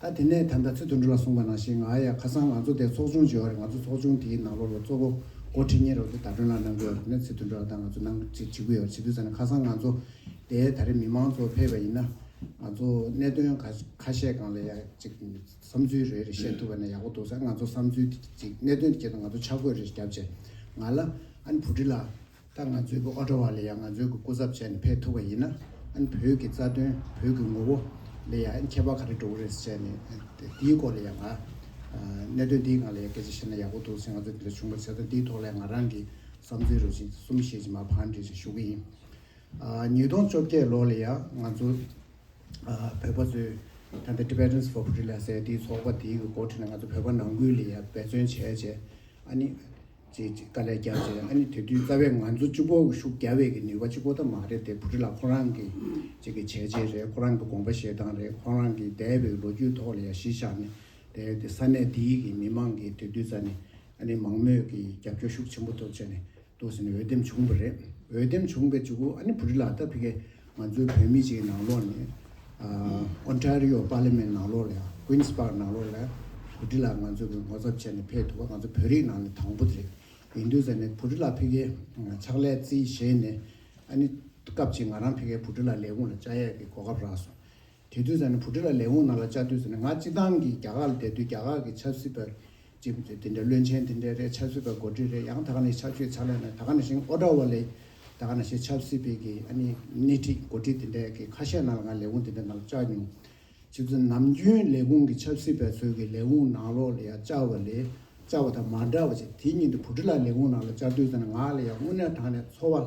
ད་དེ་ནས་ད་ལྟ་ཚེ་དུ་འགྲོ་ལ་གསུངས་པ་ནང་བཞིན་ང་ཡ་ཁ་སང་ང་ཚོ་དེ་ཚོགས་ཆུང་བྱེད་འོག་རེད་ང་ཚོ་ཚོགས་ཆུང་དེའི་ནང་ལོགས་ལ་གཙོ་བོ་མགོ་ཁྲིད་གཉེར་འོག་དེ་ད་གྲོན་ལ་གནང་དགོས་འོག་རེད་ན་ཚེ་དུ་འགྲོ་ལ་ད་ང་ཚོ་གནང་བྱེད་གི་འོག་བྱེད་དུས་ཟ་ནས་ཁ་སང་ང་ཚོ་དེ་ད་རེ་མི་མང་གཙོ་ཕེབས་པ་ཡིན་ན་ང་ཚོ་གནད་དོན་ག་ཁ་ཤས་གང་ལ་ཡ་ཅིག་བསམ་ཚུལ་རེ་རེ་བཤད་ཐུབ་པ་ན་ཡག་པོ་འདུག་ས་ང་ཚོ་བསམ་ཚུལ་དེ་ཅིག་གནད་དོན་དེ་ཅིག་ད་ང་ཚོ་ཆ་བགོས་རེ་ཞིག་བརྒྱབ་བྱས་ང་ལ་ཨ་ནི་བུ་ཁྲི་ལ། ད་ང་ཚོའི་གི་ཨོ་ཀྲ་བ་ལ་ཡང་ང་ཚོའི་གི་སྐུ་ཚབ་བྱས་ནས་ཕེབས་ཐུབ་པ་ཡིན་ན་ཨན་བོད་གི་རྩ་དོན་བོད་གི་ངོ་བོ་ལ་ཡང་ཨན་ཁྱད་པར་ག་རེ་འགྲོ་གི་རེད་ཟེར་བྱས་ནས་ཨན་དེའི་སྐོར་ལ་ཡང་ང་གནད་དོན་དེའི་ངང་ལ་ཡང་སྐད་ཆ་བཤད་ན་ཡག་པོ་འདུག་ཟེར་ང་ཚོ་འདི་འདྲ་བྱུང་བར་ཟེར་དོན་དེའི་ཐོག་ལ་ཡང་ང་རང་གི་བསམ་ཚུལ་རོ་བཞིན་གསུམ་བཤད་ཅིག་མ་ཕངས་དྲིས་ཤིག་ཞུ་གི་ཡིན། ཉིས་སྟོང་བཅོ་བརྒྱད་ལོ་ལ་ཡང་ང་ཚོ་བོད་པ་ཚོས་ད་ལྟ Tibetans for Freedom ཟེར་དེའི་ཚོགས་པ་དེའི་གི་འགོ་ཁྲིད་ནས་ང་ཚོ་བོད་པ་ནང་ཁུལ་ལ་ཡང་འབད་བརྩོན་བྱས་བྱས་ཨ་ནི་ཅེས་ཅིག་ལྟ་ལས་རྒྱ་ཆེ་ཨ་ནི་དེ་དུས་རྩ་བའི་ང་ཚོ་སྤྱི་བོ་ཤུགས་རྒྱ་བས་ཀྱི་ནུས་པ་གཅིག་པོ་ད་མ་རེད་དེ་བུ་ཁྲི་ལ་ཁོ་རང་གི་ཅིག་གི་བྱས་རྗེས་རེད་ཁོ་རང་གི་དགོངས་པ་བཞེས་སྟངས་རེད་ཁོ་རང་གི་འདས་པའི་ལོ་རྒྱུས་ཐོག་ལ་ཡང་གཞི་བཞག་ནས་དེ་དེ་ས་གནས་འདིའི་གི་མི་མང་གིས་དེ་དུས་རྩ་ནི་ཨ་ནི་མང་མོས་ཀྱི་རྒྱབ་སྐྱོར་ཤུགས་ཆེན་པོ་ཐོབ་བྱས་ནས་འདུག་ཟེར་ནས་འོས་འདེམས་བྱུང་བ་རེད་འོས་འདེམས་བྱུང་པའི་ཅིག་གུ་ཨ་ནི་བུ་ཁྲི་ལ་ད་བྷི་ཁའི་ང་ཚོའི་བོད་མི་ཞིག་ནང་ལོགས་ནས Ontario Parliament ནང་ལོགས་ལ Queens Park ནང་ལོགས་ལ་བོད་དྲི་ལ་ང་ཚོས་ངོ་ཚབ་བྱས་ནས་ཕེབས་ཐུབ་པ་ང་ཚོ་བོད་རིགས་ནང་ནས་དང་པོ་དེ་རེད། ཡིན་དུས་ཟེར་ནས་བོད་དྲི་ལ་ཕི་གའི་ཕྱག་ལས་རྩིས་བཞེས་ནས་ཨ་ནི་སྐབས་ཅིག་ང་རང་ཕི་གའི་བོད་དྲི་ལ་ལས་ཁུངས་ལ་བཅའ་ཡས་ཀྱི་གོ་སྐབས་རག་སོང། དེ་དུས་ཟེར་ན་བུ་ཁྲི་ལ་ལས་འོངས་ན་ལ་བཅའ་དུས་ཟེར་ན་ང་སྤྱི་བཏང་གིས་རྒྱ་གར་ལ་བསྡད་དུས་རྒྱ་གར་གྱི་ཆབ་སྲིད་པ། ཅེས་པ་དེ་འདྲ་བློན་ཆེན་དེ་འདྲ་རེད་ཆབ་སྲིད་པ་མགོ་འཁྲིད་རེད་ཡང་ད་ག་ནས་ཆབ་ཆོས་ཆགས་ལས་ན་ད་ག་ནས་ཤིང་ཨོ་ཏྲ་བ་ལས་ད་ག་ན་ཤེས་ཆབ་སྲིད་པའི་གི་ཨ་ནི་སྣེ་ཁྲིད་མགོ་འཁྲིད་དེ་འདྲ་གི་ཁ་ཤས་ནང་ལ་ང་ལས་འོངས་དེ་འདྲ་ནང་ལ་བཅའ་མྱོང། ཕྱི་ཚུལ་ནམ་རྒྱུན་ལས་ཁུངས་ཀྱི་ཆབ་སྲིད་པའི་ཚོས་གི་ལས་འོངས་ནང་ལོག་ལ་ཡང་བཅའ་བ་ལས་བཅའ་བ་དང་མ་འདྲ་བ་ཅིག་དེ་ཉིན་དུ་བུ་ཁྲི་ལ་ལས་འོངས་ནང་ལ་བཅའ་དུས་ཟེར་ན་ང་ལ་ཡང་དངོས་གནས་དྲང་ནས་འཚོ་བ་ལ་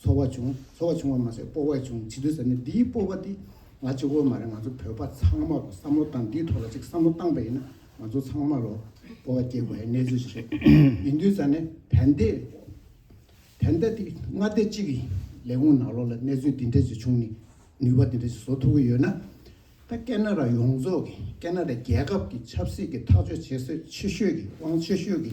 ཚོར་བ་བྱུང། ཚོར་བ་བྱུང་བ་མ་ཟད་སྤོབས་བས་བྱུང་ཇི་དུས་ཟེར་ནས་འདིའི་སྤོབས་པ་འདི་ང་གཅིག་པོ་མ་རེད་ང་ཚོ་བོད་པ་ཚང་མར་བསམ་བློ་བཏང་འདིའི་ཐོག་ལ་ཅིག་བསམ་བློ་བཏང་པ་ཡིན་ན་ང་ཚོ་ཚང་མར་རོ་སྤོབས་བ་སྐྱེ་དགོས་ཧའི་གནས་ཚུལ་ཞིག་རེད། ཡིན་དུས་ཟེར་ནས་བན་དེ་བན་དེ་འདི་སྔ་ལྟས་གཅིག་གི་ལས་ཁུངས་ནང་ལོག་ལ་གནས་ཚུལ་འདི་འདྲ་ཞིག་བྱུང་ནས་ནུས་པ་འདི་འདྲ་ཞིག་བཟོ་ཐུབ་ཀྱི་ཡོད་ན། ད་ཀེ་ན་ར་ཡོངས་རྫོགས་ཀྱི་ཀེ་ན་ར་རྒྱལ་ཁབ་ཀྱི་ཆབ་སྲིད་ཀྱི་ཐག་གཅོད་བྱེད་སྲོལ་ཆེ་ཤོས་ཀྱི་དབང་ཆེ་ཤོས་ཀྱི་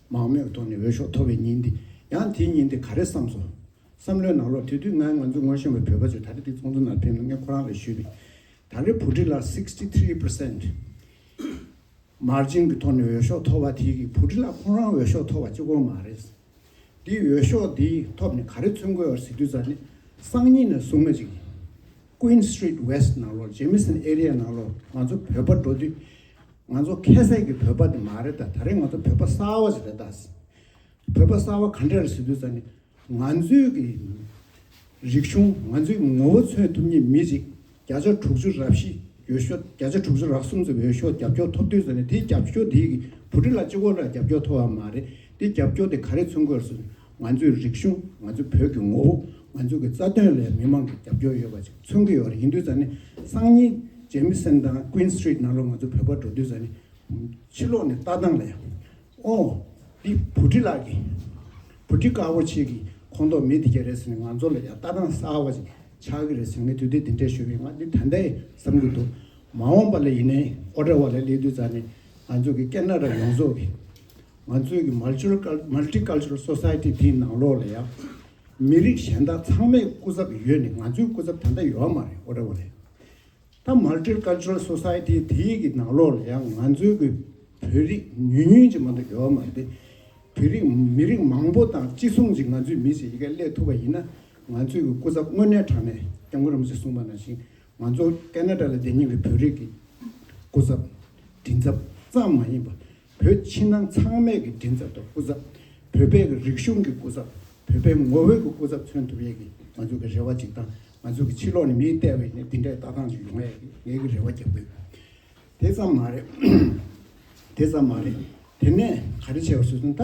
མང་མོས་ཐོག་ནས་འོས་ཤོག་མཐོ་བའི་ཉིན་དེ། ཡང་དེའི་ཉིན་དེ་ག་རེ་བསམས་སོང། བསམ་བློའི་ནང་ལོག་དེ་དུས་ནངས་ང་ཚོ་ངོ་ཤེས་བའི་བོད་པ་ཚོས་ད་རེས་འདི་ཚོགས་འདུ་ནང་ཕེབས་ན་ངས་ཁོ་རང་ལ་ཞུས་པའི། ད་རེས་བོད་ཁྲི་ལ sixty three percent margin གི་ཐོག་ནས་འོས་ཤོག་མཐོ་བ་དེ་གིས་བོད་ཁྲི་ལ་ཁོང་རང་འོས་ཤོག་མཐོ་བ་གཅིག་གོ་མ་རེད། འདིས་འོས་ཤོག་དེའི་ཐོབ་ནས་ག་རེ་མཚོན་དགོས་བར་གཟིགས་དུས་ཙར་ནས་སང་ཉིན་ནས་བཟུང་ང་ཅིག། Queen Street West ནང་ལོགས Jamison Area ནང་ལོགས་ང་ཚོ་བོད་པ་འགྲོ་དུས། ང་ཚོ་ཁལ་སེ་གི་བོད་པ་དེ་མ་རེད་ད་ད་རེས་ང་ཚོ་བོད་པ་གསར་བ་ཞིག་རེད་ད། བོད་པ་གསར་བ་ག་འདྲ་རེད་ཟེར་དུས་ད་ནི་ང་ཚོའི་གི་རིག་གཞུང་ང་ཚོའི་གི་ངོ་བོ་མཚོན་ཐུབ་ངེས་མི་ཞིག་བརྒྱ་ཆ་དྲུག་ཅུ་རག་བཞི་ཡོད་ཤོག་བརྒྱ་ཆ་དྲུག་ཅུ་རག་གསུམ་ཙམ་ཡོད་ཤོག་རྒྱབ་སྐྱོར་ཐོབ་དུས་ད་ནི་དེ་རྒྱབ་སྐྱོར་དེའི་གི་བུ་ཕྲུག་ལ་གཅིག་བོ་ལ་རྒྱབ་སྐྱོར་ཐོབ་བ་མ་རེད་དེ་རྒྱབ་སྐྱོར་དེ་ག་རེ་མཚོན་དགོས་རེད་ཟེར་དུས། ང་ཚོའི་རིག་གཞུང་ང་ཚོའི་བོད་ཀྱི་ངོ་བོ་ང་ཚོའི་གི་རྩ་དོན་ལས་མི་མང་གི་རྒྱབ་སྐྱོར་ཡོད་པ་ཅིག་མཚོན་གི་ཡོད་རེད་ཡིན་དུས་ད་ནི་སང་ཉིན་ཇེ་མི་སེམས་དང Queen Street ནང་ལོག་ང་ཚོ་བོད་པ་འགྲོ་དུས་ད་ནི་ཕྱི་ལོག་ནས་ལྟ་སྟངས་ལས་ཨོ་འདི་བུ་ཁྲི་ལགས་ཀྱི་བུ་ཁྲི་དཀར་བོ་ཆེ་གི་ཁོང་ཏོག་མི་འདི་ག་རེད་ཟེར་ནས་ང་ཚོ་ལ་ཡང་ལྟ་སྟངས་གསར་བ་ཅིག་ཆགས་གི་རེད་ཟེར་ངས་དུས་དེབ་དེ་འདྲས་ཞུས་པས་ང་འདི་ད་འདའི་བསམ་གི་འདུག་མ་འོངས་པ་ལ་ཡིན་ནའི་ཨོ་འདྲ་བ་ལ་སླེབས་དུས་ད་ནི་ང་ཚོ་གི་སྐད་ན་ར་ཡོངས་རྫོགས་གི་ང་ཚོའི་གི Multicultural Society དེའི་ནང་ལོགས་ལ་ཡང་མི་རིགས་གཞན་དག་ཚང་མས་སྐུ་ཚབ་ཡོད་ནི་ང་ཚོའི་སྐུ་ཚབ་ད་ལྟ་ཡོད་མ་རེད་ཨོ་རེད་ཨོ་རེད། ད Multicultural Society དེའི་གི་ནང་ལོགས་ལ་ཡང་ང་ཚོའི་གི་བོད་རིགས་ཉུང་ཉུང་ཅིག་མ་གཏོགས་ཡོད་མ་རེད། བོད་རིགས་མི་རིགས་མང་པོ་དང་གཅིག་མཚུངས་ཅིག་ང་ཚོའི་མི་ཞིག་ཡི་གེ་གླེགས་ཐུབ་པ་ཡིན་ན་ང་ཚོའི་གི་སྐུ་ཚབ་དངོས་གནས་དྲང་ནས་སྐྱབས་མགོན་རིན་པོ་ཆེས་གསུངས་པ་ནང་བཞིན་ང་ཚོ Canada ལ་བསྡད་ཉིན་གི་བོད་རིགས་གི་སྐུ་ཚབ་མགྲིན་ཚབ་ཙམ་མ་ཡིན་པ་བོད་ཕྱི་ནང་ཚང་མས་ཀྱི་མགྲིན་ཚབ་དང་སྐུ་ཚབ། བོད་པའི་ཀྱི་རིག་གཞུང་གི་སྐུ་ཚབ། བོད་པའི་ངོ་བོའི་ཀྱི་སྐུ་ཚབ་མཚོན་ཐུབ་ཡས་ཀྱི་ང་ཚོས་ཀྱི་རེ་བ་གཅིག་དང། ང་ཚོས་ཀྱི་ཕྱི་ལོགས་ནས་མིའི་ལྟེ་བའི་ནས་འདི་འདྲའི་བདག་དབང་ཞིག་ཡོང་ཡས་ཀྱི་ངས་ཀྱི་རེ་བ་རྒྱབ་ཀྱི་ཡོད། དེ་ཙམ་མ་རེད། དེ་ཙམ་མ་རེད། དེ་ནས་ག་རེ་བྱས་པ་ཞུ་དོན་ད།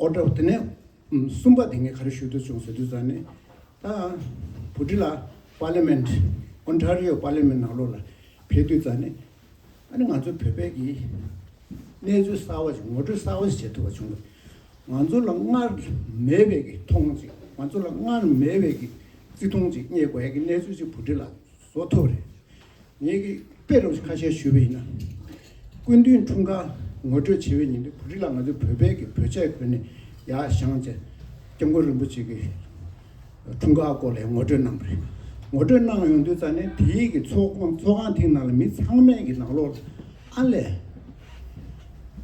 ཨོ་དྲོ་དེ་ནས། གསུམ་པ་དེ་ངས་ག་རེ་ཞུ་དོན་བྱུང་ཟེར་དུས་ཙང་ནས། ད། བུ་ཀྲི་ལ། Parliament། Ontario Parliament ནང་ལོགས་ལ། ཕེབས་དུས་ཙང་ནས། ཨ་ནི་ང་ཚོའི་བོད་པའི་གིས་གནས་ཚུལ་གསར་བ་ཞིག་ངོ་སྤྲོད་གསར་བ་ཞིག་བྱེད་ཐུབ་པ་བྱུང་བས། ང་ཚོ་ལ་སྔར་མེད་བའི་གིས་མཐོང་ཅིག་ང་ཚོ་ལ་སྔར་མེད་བའི་གིས་བརྩི་མཐོང་ཅིག་རྙེད་དགོས་ཡ་གི་གནས་ཚུལ་ཅིག་བུ་འདི་ལ་བཟོ་ཐུབ་རེད། ངེད་ཀྱི་དཔེ་རོགས་ཞིག་ཁ་ཤས་ཞུས་པ་ཡིན་ན། སྐུ་མདུན་འཁྲུངས་སྐར་ངོ་སྤྲོད་བྱེད་པའི་ཉིན་དེ་བུ་རི་ལ་ང་ཚོའི་བོད་པའི་གིས་བོད་ཆས་གོན་ནས་ཡ་ཞང་བཅས་སྐྱབས་མགོན་རིན་པོ་ཆེ་གི་འཁྲུངས་སྐར་སྐོར་ལས་ངོ་སྤྲོད་གནང་བ་རེད། ངོ་སྤྲོད་གནང་ཡོང་དུས་རྩ་ནས་དེ་ཡིག་གི་ཚོགས་ཁང་ཐེངས་ནང་ལ་མི་ཚང་མས་ཀྱི་ནང་ལོགས་ལ་ཨ་ལས།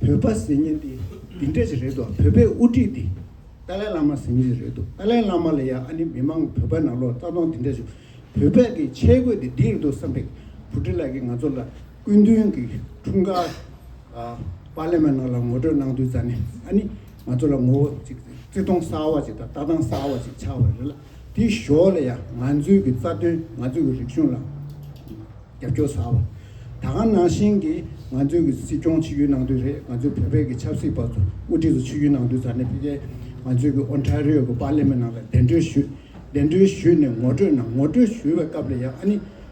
བོད་པ་ཟེར་ཉིན་དེ་འདི་འདྲས་ཞིག་རེད་དོ་བོད་པའི་དབུ་ཁྲིད་དེ་ཏཱ་ལའི་བླ་མ་ཟེར་ཉིན་ཞིག་རེད་དོ་ཏཱ་ལའི་བླ་མ་ལ་ཡང་ཨ་ནི་མི་མང་བོད་པ་ནང་ལོགས་ལ་རྩ་སྟོང་འདི་འདྲས་ཞིག་བོད་པས་ཀྱི་ཆས་གོས་དེ་འདི་རེད་དོ་བསམ་པའི་བུ་ཁྲིད་ལགས་ཀྱིས་ང་ཚོ་ལ། སྐུ་མདུན་གྱི་འཁྲུངས་སྐར་པར་ལེན་མ་གནང་ལ་ངོ་སྤྲོད་གནང་དུས་རྩ་ནས་ཨ་ནི་ང་ཚོ་ལ་ངོ་བོ་གཅིག་བརྩི་མཐོང་གསར་བ་ཞིག་དང་ལྟ་སྟངས་གསར་བ་ཞིག་ཆགས་པ་རེད་ལ་དེའི་ཞོར་ལ་ཡང་ང་ཚོའི་གི་རྩ་དོན་ང་ཚོའི་གི་རིག་གཞུང་ལ་རྒྱབ་སྐྱོར་གསར་བ་ད་གང་ནང་བཞིན་གྱི་ང་ཚོའི་གི་སྲིད་སྐྱོང་ཕྱི་ཡུལ་གནང་དུས་རེད་ང་ཚོའི་བོད་པའི་གི་ཆབ་སྲིད་པ་ཚོ་དབུ་ཁྲིད་ཚོ་ཕྱི་ཡུལ་གནང་དུས་རྩ་ནས་ཕི་ཀའི་ང་ཚོའི་གི་ཨོན་ཁྲ་རིའོ་གི་པར་ལེན་མ་གནང་ལ་གདན་གྲོལ་ཞུས་གདན་གྲོལ་ཞུས་ནས་ངོ་སྤྲོད་གནང་ངོ་སྤྲོད་ཞུས་པའི་སྐབས་ལ་ཡང་ཨ་ནི།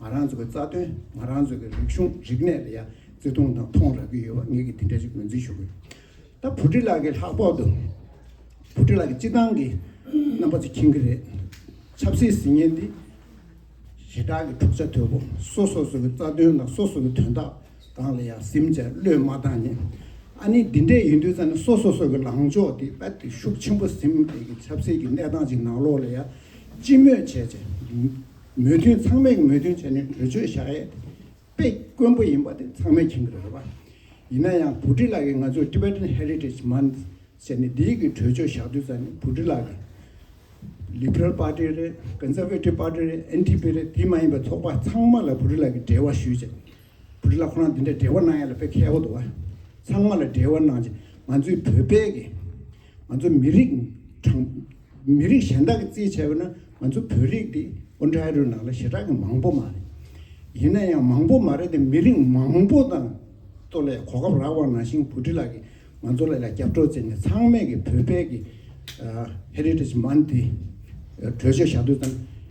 ང་རང་ཚོ་གི་རྩ་དོན་ང་རང་ཚོ་གི་རིག་གཞུང་རིག་གནས་ལ་ཡང་བརྩི་མཐོང་དང་མཐོང་རག་གི་ཡོད་པ་ངེད་ཀྱིས་དེ་འདྲ་ཞིག་ངོས་འཛིན་ཞུ་གི་ཡོད་ད་བུ་ཁྲི་ལགས་ཀྱི་ལྷག་ཕོག་ཏུ་བུ་ཁྲི་ལགས་ཀྱི་སྤྱི་བཏང་གི་རྣམ་པ་ཚོ་མཁྱེན་གྱི་རེད་ཆབ་སྲིད་ཟིང་ངན་འདི་ཞེ་དྲག་གི་འཁྲུག་ཆ་དོད་པོ་སོ་སོ་སོ་གི་རྩ་དོན་དང་སོ་སོ་གི་དོན་དག་གང་ལ་ཡང་སེམས་བཅས་བློས་མ་བཏང་ནས་ཨ་ནི་འདི་འདྲས་ཡིན་དུས་ཙང་ནས་སོ་སོ་སོ་གི་ལངས་ཕྱོགས་དེ་རྦད་དེ་ཤུགས་ཆེན་པོ་སེམས་བསྐྱེད་ཀྱི་ཆབ་སྲིད་ཀྱི་གནས་སྟངས་ཅིག་ནང་ལོགས་ལ་ཡང་སྤྱི་མོས་བྱས་བྱས་མོས་མཐུན་ཚང་མས་མོས་མཐུན་བྱས་ནས་གྲོས་ཆོད་བཞག་ཡས་དེ་དཔེ་དཀོན་པོ་ཡིན་པ་དེ་ཚང་མས་མཁྱེན་གི་རེད་པ། ཡིན་ན་ཡང་བུ་ཀྲི་ལགས་ཀྱིས་ང་ཚོས Tibetan Heritage Month ཟེར་ནས་འདིའི་གི་གྲོས་ཆོད་བཞག་དུས་ཙང་ནས་བུ་ཀྲི་ལགས་ཀྱིས Liberal Party རེད Conservative Party རེད NTP རེད་དེ་མ་ཡིན་པའི་ཚོགས་པ་ཚང་མ་ལ་བུ་ཀྲི་ལགས་ཀྱིས་འབྲེལ་བ་ཞུས་ཅིག་བུ་ཀྲི་ལགས་ཁོ་རང་འདི་འདྲའི་འབྲེལ་བ་གནང་ཡས་ལ་དཔེ་ཁལ་བོ་འདུག་བ། ཚང་མ་ལ་འབྲེལ་བ་གནང་ཅིག་ང་ཚོའི་བོད་པའི་གི། ང་ཚོ་མི་རིགས་གྲངས། མི་རིགས་གཞན་དག་གི་རྩིས་བྱས་པ་ན་ང་ཚོ་བོད་རིགས་དེ་ཨོ་འགྲའི་རུ་ནག་ལ་ཞེ་དྲག་གི་མང་པོ་མ་རེད། ཡིན་ན་ཡང་མང་པོ་མ་རེད་དེ་མི་རིགས་མང་པོ་དང་ཏོ་ལས་གོ་སྐབས་རག་བར་ན་ཤིང་བུ་ཁྲི་ལགས་ཀྱིས་ང་ཚོ་ལ་ལ་རྒྱབ་སྒྲོག་བརྩེ་ནས་ཚང་མས་ཀྱི་བོད་པའི་ཀྱི Heritage Month དེ་གྲོས་ཆོད་བཞག་དུས་ཙམ་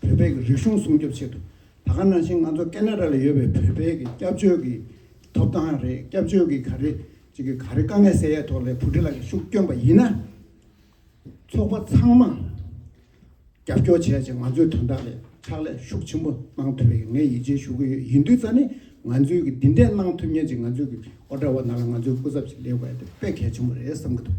བོད་པའི་གི་རིག་གཞུང་སྲུང་སྐྱོབ་ཆེད་དུ་ད་ག་ནང་བཞིན་ང་ཚོ་ཀེ་ནེ་ར་ལ་ཡོད་པའི་བོད་པའི་གི་སྐྱབས་བཅོལ་གི་ཐོབ་ཐང་རེད་སྐྱབས་བཅོལ་གི་ག་རེ་ཅིག་གི་ག་རེ་དཀའ་ངལ་སེལ་ཡས་ཐོག་ལས་བུ་ཁྲི་ལ་གི་ཤུགས་བསྐྱོན་པ་ཡིན་ན། ཚོགས་པ་ཚང་མ་རྒྱབ་སྐྱོར་བྱས་ཅིང་ང་ཚོའི་དོན་དག་ལས་ཕྱག་ལས་ཤུགས་ཆེན་པོ་གནང་ཐུབ་པའི་ངས་ཡིད་ཆེས་ཞུ་གི་ཡོད་ཡིན་དུས་རྩ་ནི་ང་ཚོའི་གི་འདི་འདྲས་གནང་ཐུབ་ཉེན་ཅིག་ང་ཚོའི་གི་ཨོ་ཏྲ་བ་ནང་ལ་ང་ཚོའི་སྐུ་ཚབ་ཅིག་སླེབས་དགོས་ཡ་དེ་དཔེ་གལ་ཆེན་པོ་རེད་བསམ་གི་འདུག།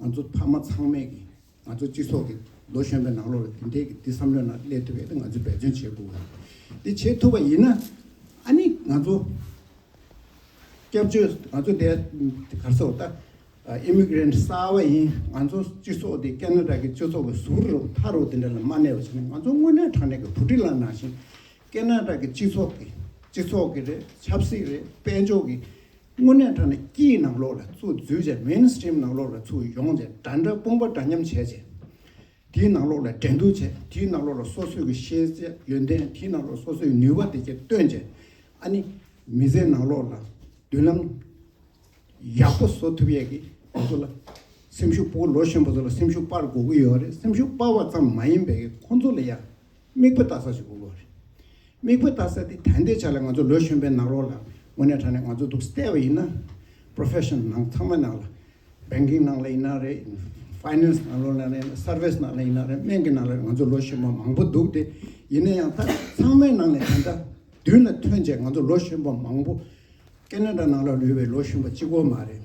ང་ཚོ་ཕ་མ་ཚང་མས་ཀྱིས་ང་ཚོ་སྤྱི་ཚོགས་ཀྱི་ལོ་གཞོན་པའི་ནང་ལོགས་ལ་དེ་འདྲའི་ཀྱི་དེ་བསམ་བློའི་ནང་སླེབས་ཐུབ་པའི་ང་ཚོས་འབད་བརྩོན་བྱེད་དགོས། དེ་བྱེད་ཐུབ་པ་ཡིན་ན་ཨ་ནི་ང་ཚོ་སྐྱབས་བཅོལ་ང་ཚོ་དེ་གར་སོ་ད Immigrant གསར་བ་ཡིན་ང་ཚོ་སྤྱི་ཚོགས་དེ་ཀེ་ན་ར་ཀྱི་སྤྱི་ཚོགས་ཀྱི་ཟུར་རུ་མཐའ་རུ་དེ་འདྲ་ལ་མ་གནས་པ་བྱས་ན་ང་ཚོ་དངོས་གནས་དྲང་གནས་ཀྱི་བུ་ཁྲི་ལ་ནང་བཞིན་ཀེ་ན་ར་ཀྱི་སྤྱི་ཚོགས་ཀྱི་སྤྱི་ཚོགས་ཀྱི་རེད་ཆབ་སྲིད་རེད་དཔལ་འབྱོར་གྱི་དངོས་གནས་དྲ་ནས་སྐྱིད་ནང་ལོགས་ལ་ཚུར་འཛུལ་རྗེས Main Stream ནང་ལོགས་ལ་ཚུར་ཡོང་རྗེས་དྲ་འདྲ་དཔུང་པ་འདྲ་མཉམ་བྱས་རྗེས། དེའི་ནང་ལོགས་ལ་འགྲན་བསྡུར་བྱས་དེའི་ནང་ལོགས་ལ་སོ་སོས་ཀྱི་ཤེས་བྱ་ཡོན་ཏན་དེའི་ནང་ལོགས་སོ་སོས་ནུས་པ་དེ་བཅས་བཏོན་རྗེས་ཨ་ནི་མི་ཚེའི་ནང་ལོགས་ལ་མདུན་ལམ་ཡག་པོ་བཟོ་ཐུབ་ཡས་ཀྱི་ང་ཚོ་ལ་སེམས་ཤུགས་སྤོ་ལོ་གཞོན་པ་ཚོ་ལ་སེམས་ཤུགས་སྤར་དགོས་ཀྱི་ཡོད་རེད་སེམས་ཤུགས་སྤར་བ་ཙམ་མ་ཡིན་པའི་ཁོང་ཚོ་ལ་ཡང་དམིགས་བུ་བཏགས་ས་ཞིག་དགོས་ཀྱི་རེད། དམིགས་བུ་བཏགས་ས་དེ་ད་ལྟའི་ཆ་ལ་ང་ཚོ་ལོས་གཞོན་པའི་ནག་རོགས་ལ་དངོས་གནས་དྲ་ནས་ང་ཚོ་འདུག་བལྟས་པ་ཡིན་ན། Profession ནང་ཚང་མ་ནང་ལ། Banking ནང་ལ་ཡིན་ན་རེད། Finance ནང་ལོ་ནང་ལ་ཡིན་ན Service ནང་ལ་ཡིན་ན་རེད་སྨན་གྱི་ནང་ལ་རེད་ང་ཚོ་ལོས་གཞོན་པ་མང་པོ་འདུག་སྟེ། ཡིན་ན་ཡང་ད་ཚང་མའི་ནང་ནས་དེ་འདྲ་མདུན་ལ་ཐོན་བྱས་ང་ཚོ་ལོས་གཞོན་པ་མང་པོ། Canada ནང་ལ་ལུས་པའི་ལོས་གཞོན་པ་གཅིག་པོ་མ་རེད།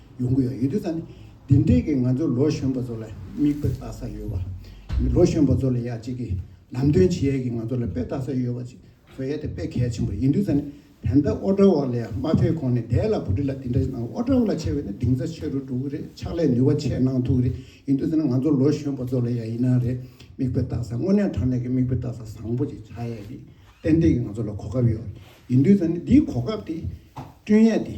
ཡོང་གི་ཡོད་ཡོད་དུས་ད་ནི་དེ་འབྲེལ་གྱི་ང་ཚོ་ལོ་གཞོན་པ་ཚོ་ལ་མིག་དཔེ་བལྟ་ས་ཡོད་པ། ལོ་གཞོན་པ་ཚོ་ལ་ཡག་ཅིག་གི་ལམ་སྟོན་བྱེད་ཡས་ཀྱི་ང་ཚོ་ལ་དཔེ་བལྟ་ས་ཡོད་པ་ཅིག་བཟོ་ཡས་དེ་དཔེ་གལ་ཆེན་པོ་ཡིན་དུས་ད་ནི་བན་ད་ཨོ་ཏྲ་བ་ལ་ཡང་མ་ཕེབས་གོང་ནས་དེ་ལ་བུ་ཁྲི་ལ་དེ་འདྲ་ཞིག་གནང་ཨོ་ཏྲ་བ་ལ་ཆེ་བས་ནི་གདིང་ཚ་ཆེ་རུ་འགྲོ་གི་རེད་ཕྱག་ལས་ནུས་བ་ཆེ་གནང་ཐུབ་གི་རེད་ཡིན་དུས་ད་ནི་ང་ཚོ་ལོ་གཞོན་པ་ཚོ་ལ་ཡང་ཡིན་ན་རེད་མིག་དཔེ་བལྟ་ས་དངོས་གནས་དྲང་གནས་ཀྱི་མིག་དཔེ་བལྟ་ས་བཟང་པོ་ཅིག་བྱ་ཡས་ཀྱི་ཏན་ཏན་གྱི་ང་ཚོ་ལ་གོ་སྐབས་ཡོད་ཡིན་དུས་ད་ནི་འདིའི་གོ་སྐབས་དེ་བསྐྲུན་ཡས་དེ།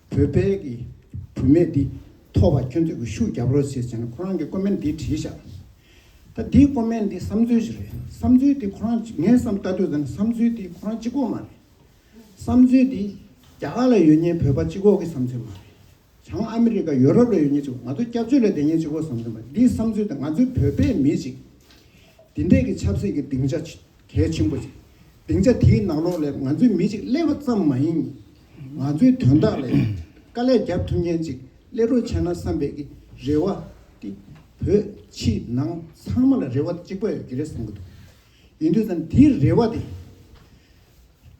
བོད་པའི་གི་བུ་མེད་འདི་ཐོ་བ་ཁྱོད་ཚོས་གི་ཤུགས་རྒྱབ་རོགས་བྱེད་ཅེ་ན་ཁོ་རང་གི་ཀོ་མེན་འདི་བྲིས་བཞག་ད་འདི་ཀོ་མེན་འདི་བསམ་ཚུལ་ཞིག་རེད་བསམ་ཚུལ་འདི་ཁོ་རང་ངས་བསམ་བལྟ་དུས་ད་ནི་བསམ་ཚུལ་འདི་ཁོ་རང་སྤྱི་ཁོག་མ་རེད་བསམ་ཚུལ་འདི་རྒྱ་གར་ལ་ཡོད་ཉེན་བོད་པ་སྤྱི་ཁོག་གི་བསམ་ཚུལ་མ་རེད་བྱང་ཨ་མི་རི་ཀ་ཡོ་རོབ་ལ་ཡོད་ཉེན་སྤྱི་ཁོག་ང་ཚོ་སྐྱབས་བཅོལ་ལ་བསྡད་ཉེན་སྤྱི་ཁོག་བསམ་ཚུལ་མ་རེད་འདི་བསམ་ཚུལ་ད་ང་ཚོའི་བོད་པའི་མི་ཅིག་འདི་འདྲས་གི་ཆབ་སྲིད་གི་སྡིངས་ཆ་གལ་ཆེན་པོ་ཞིག་སྡིངས་ཆ་དེའི་ནང་ལོགས་ལས་ང་ཚོའི་མི་གཅིག་སླེབས་པ་ཙམ་མ་ཡིན། ང་ཚོའི་དོན་དག་ལས་དཀའ་ལས་རྒྱབ་ཐུབ་མཁན་ཅིག་སླེབས་རོགས་བྱས་ན་བསམ་པའི་གི་རེ་བ་དེ་བོད་ཕྱི་ནང་ཚང་མ་ལ་རེ་བ་གཅིག་པ་ཡོད་ཀྱི་རེད་བསམ་གྱི་འདུག་ཡིན་དུས་སམ་དེའི་རེ་བ་དེ་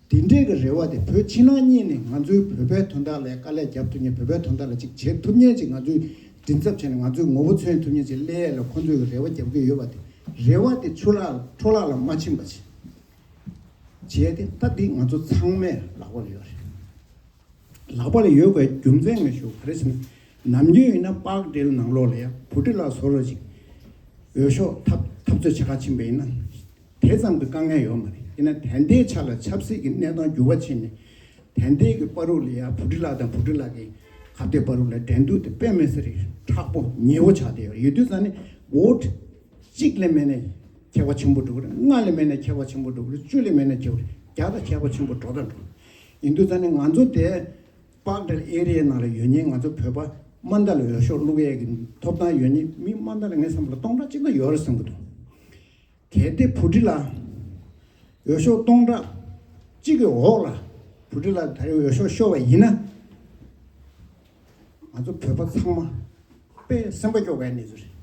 དེ་འདྲའི་གི་རེ་བ་དེ་བོད་ཕྱི་ནང་གཉིས་ནས་ང་ཚོའི་བོད་པའི་དོན་དག་ལས་དཀའ་ལས་རྒྱབ་ཐུབ་ཉིན་བོད་པའི་དོན་དག་ལ་ཅིག་བྱེད་ཐུབ་ཉིན་ཅིག་ང་ཚོའི་མགྲིན་ཚབ་བྱས་ནས་ང་ཚོའི་ངོ་བོ་མཚོན་ཐུབ་ཉིན་ཅིག་སླེ་ཡས་ལ་ཁོ་ཚོས་གི་རེ་བ་རྒྱབ་གི་ཡོད་པ་དེ་རེ་བ་དེ་ཆུ་ལག་འཕྲོ་ལག་ལ་མ་ཕྱིན་པ་ཅིག་བྱས་ཏེ་ད་འདི་ང་ཚོ་ཚང་མས་ལག་པར་ཡོད་རེད། ལག་པ་ལ་ཡོད་དགའི་རྒྱུ་མཚན་ངས་ཞུ་ག་རེ་ཟེར་ན། ནམ་རྒྱུན་ཡིན་ན་དཔག་འགྲེལ་ནང་ལོགས་ལ་ཡང་བུ་ཁྲི་ལ་བཟོ་རོགས་ཅིག། འོས་ཤོག་འཐབ་འཐབ་རྩོད་བྱེད་ཁ་ཆེན་པོ་ཡིན་ན། དེ་ཙམ་གྱི་དཀའ་ངལ་ཡོད་མ་རེད་ཡིན་ན་དན་ཏའི་ཆ་ལ་ཆབ་སྲིད་ཀྱི་གནས་སྟངས་འགྱུར་བ་ཕྱིན་ནས། དན་ཏའི་གི་པར་རུ་ལ་ཡང་བུ་ཁྲི་ལགས་དང་བུ་ཁྲི་ལགས་ཀྱི་ཁ་བརྡའི་པར་རུ་ལ་འགྲན་བསྡུར་དེ་དཔེ་མི་སྲིད་རིགས་ཁྲག་པོ་ཉེ་བོ་ཆགས་བསྡད་ཡོད་ཡོད་དུས་ཙམ་ནས་བོད། གཅིག་ལས་མེད་ནས་ཁྱད་པ་ཆེན་པོ་འགྲོ་གི་རེད་ལྔ་ལས་མེད་ནས་ཁྱད་པ་ཆེན་པོ་འགྲོ་གི་རེད་བཅུ་ལས་མེད་ནས་ཁྱད་པ་རེད་བརྒྱ་དང་ཁྱད་པ་ཆེན་པོ་འགྲོ་དང་འགྲོ། ཡིན་དུས་ད་ནི་ང་ཚོ་དེ་པག་སྦྲེལ་ཨེ་རེའི་ནང་རེ་ཡོད་ཉིན་ང་ཚོ་བོད་པ་དམའ་མདའ་ལ་འོས་ཤོག་བླུག་ཨེ་གི་ཐོབ་ཐང་ཡོད་ཉིན་མི་དམའ་མདའ་ལ་ངའི་བསམ་པར་སྟོང་ཕྲག་གཅིག་ལ་ཡོད་རེད་བསམ་གི་འདུག་གལ་ཏེ་བུ་ཁྲི་ལ་འོས་ཤོག་སྟོང་ཕྲག་གཅིག་གི་འོག་ལ་བུ་ཁྲི་ལ་ད་རེའི་འོས་ཤོག་ཤོར་བ་ཡིན་ན། ང་ཚོ་བོད་པ་ཚང་མ་དཔེ་སེམས་པ་སྐྱོ་ག་ནི་རེད།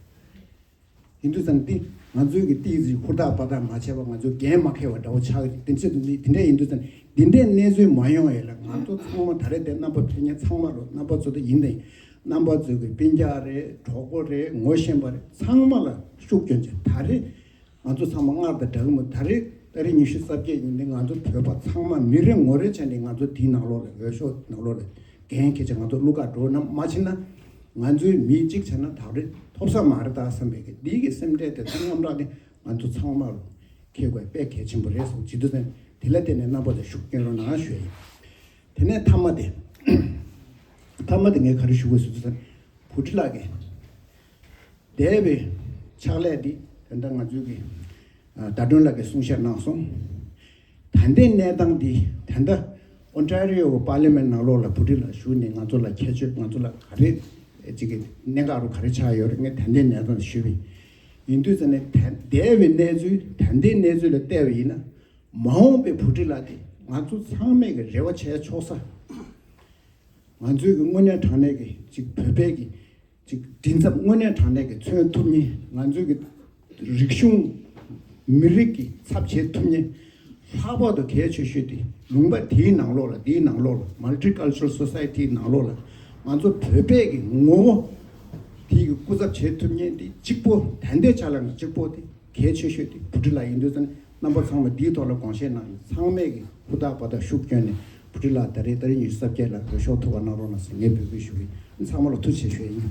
ཡིན་དུས་ཙང་ཏི་ང་ཚོའི་གི་ཏི་ཟི་ཧུར་ཐག་པར་ཐག་མ་ཆད་པར་ང་ཚོ་འགན་མ་ཁེལ་བ་འདྲ་བོ་ཆགས་ཀྱི་འདུག་དེ་ཚོས་འདི་འདྲ་ཡིན་དུས་ཙང་འདི་འདྲའི་གནས་ཚུལ་མ་ཡོང་ཡས་ལ་ང་ཚོ་ཚང་མ་ད་རེས་འདི་རྣམ་པ་ཕལ་ཉེན་ཚང་མ་རུ་རྣམ་པ་ཚོ་ད་ཡིན་ཏེ་རྣམ་པ་ཚོས་གི་དཔེ་རྒྱག་རེད་གྲོགས་པོ་རེད་ངོ་ཤེས་པ་རེད་ཚང་མ་ལ་ཤུགས་བསྐྱོན་ཅིག་ད་རེས་ང་ཚོ་ཚང་མ་སྔར་དང་འདྲ་གི་མོད་ད་རེས་ད་རེས་ཉི་ཤུ་རྩ་བརྒྱད་ཉིན་འདི་ང་ཚོ་བོད་པ་ཚང་མ་མི་རེ་ངོ་རེ་བྱས་འདི་ང་ཚོ་དེའི་ནང་ལོགས་ལ་འོས་ཤོག་ནང་ལོགས་ལ་འགན་ཁེལ་ཅིག་ང་ཚོ་གླུ་གར་འགྲོ་རྣམས་མ་བྱེད་ན། ང་ཚོས་མི་གཅིག་བྱས་ན་ཐག་རིང་ཐོབ་ས་མ་རེད་དཱ་བསམ་པའི་གི་འདི་གི་སེམས་ཁྲལ་དེ་ཚོ་མཉམ་རག་གི་ང་ཚོ་ཚང་མ་རུ་ཁེལ་དགོས་དཔེ་གལ་ཆེན་པོ་རེད་སོང་བྱིས་དུ་སེམས་དེ་ལ་བརྟེན་ནས་རྣམ་པ་དེ་ཤུགས་སྐྱེན་རོགས་གནང་ཞུ་ཡ་ཡིན་དེ་ནས་མཐའ་མ་དེ་མཐའ་མ་དེ་ངས་ག་རེ་ཞུ་དགོས་བྱིས་དུ་སེམས་བུ་ཁྲི་ལགས་ཀྱི་འདས་པའི་ཕྱག་ལས་འདི་དེ་འདྲ་ང་ཚོའི་གི་ཟླ་སྒྲོན་ལགས་ཀྱི་གསུང་བཤད་གནང་སོང་ད་ལྟའི་གནས་སྟངས་འདི་དེ་འདྲ། Ontario Parliament ནང་ལོགས་ལ་བུ་ཕྲུག་ལ་ཞུགས་ནས་ང་ཚོ་ལ་ཁྱད་ཆོས་ང་ཚོ་ལ་ག་རེ་ཅིག་གི་གནད་འགག་རུ་ག་རེ་ཆགས་ཡོད་རེད་ད་ལྟའི་གནས་སྟངས་ཞུས་པའི་ཡིན་དུས་ཙམ་ནས་དེ་འདས་པའི་གནས་ཚུལ་ད་ལྟའི་གནས་ཚུལ་ལ་བལྟས་པ་ཡིན་ན་མ་འོངས་པའི་བུ་ཕྲུག་ལ་དེ་ང་ཚོ་ཚང་མས་གི་རེ་བ་བྱས་ཆོག་ས། ང་ཚོའི་གི་དངོས་གནས་དྲང་གནས་གི་ཅིག་བོད་པའི་གི་གཅིག་མགྲིན་ཚབ་དངོས་གནས་དྲང་གནས་ཀྱི་མཚོན་ཐུབ་ཉིན་ང་ཚོའི་གི་རིག་གཞུང་མི་རིགས་ཀྱི་ཚབ་བྱེད་ཐུབ་ཉིན་ལྷག་པར་དུ་གལ་ཆེ་ཤོས་དེ་ལུང་པ་དེའི་ནང་ལོགས་ལ་འདིའི་ནང་ལོགས་ལ Multi Cultural Society ནང་ལོགས་ལ་ང་ཚོ་བོད་པས་གི་ངོ་བོ་དེའི་གི་སྐུ་ཚབ་བྱེད་ཐུབ་ཉིན་དེ་གཅིག་པོ་དན་ཏའི་ཆ་ལ་ང་གཅིག་པོ་དེ་གལ་ཆེ་ཤོས་དེ་བུ་ཁྲི་ལ་ཡིན་དུས་ཙང་རྣམ་པ་ཚང་མ་འདིའི་ཐོག་ལ་དགོངས་བཞེས་གནང་ཡོད་ཚང་མས་ཀྱི་ཧུར་ཐག་པ་དག་ཤུགས་བསྐྱོན་ནས་བུ་ཁྲི་ལགས་ད་རེས་ད་རེས་ཉི་ཤུ་རྩ་བརྒྱད་ལ་འོས་ཤོག་ཐོབ་པ་གནང་རོགས་གནང་ཟེར་ངས་འབོད་སྐུལ་ཞུ་གི་ཡིན་ཚང་མ་ལ་ཐུགས་ཆེ་ཞུ་ཡ་ཡིན།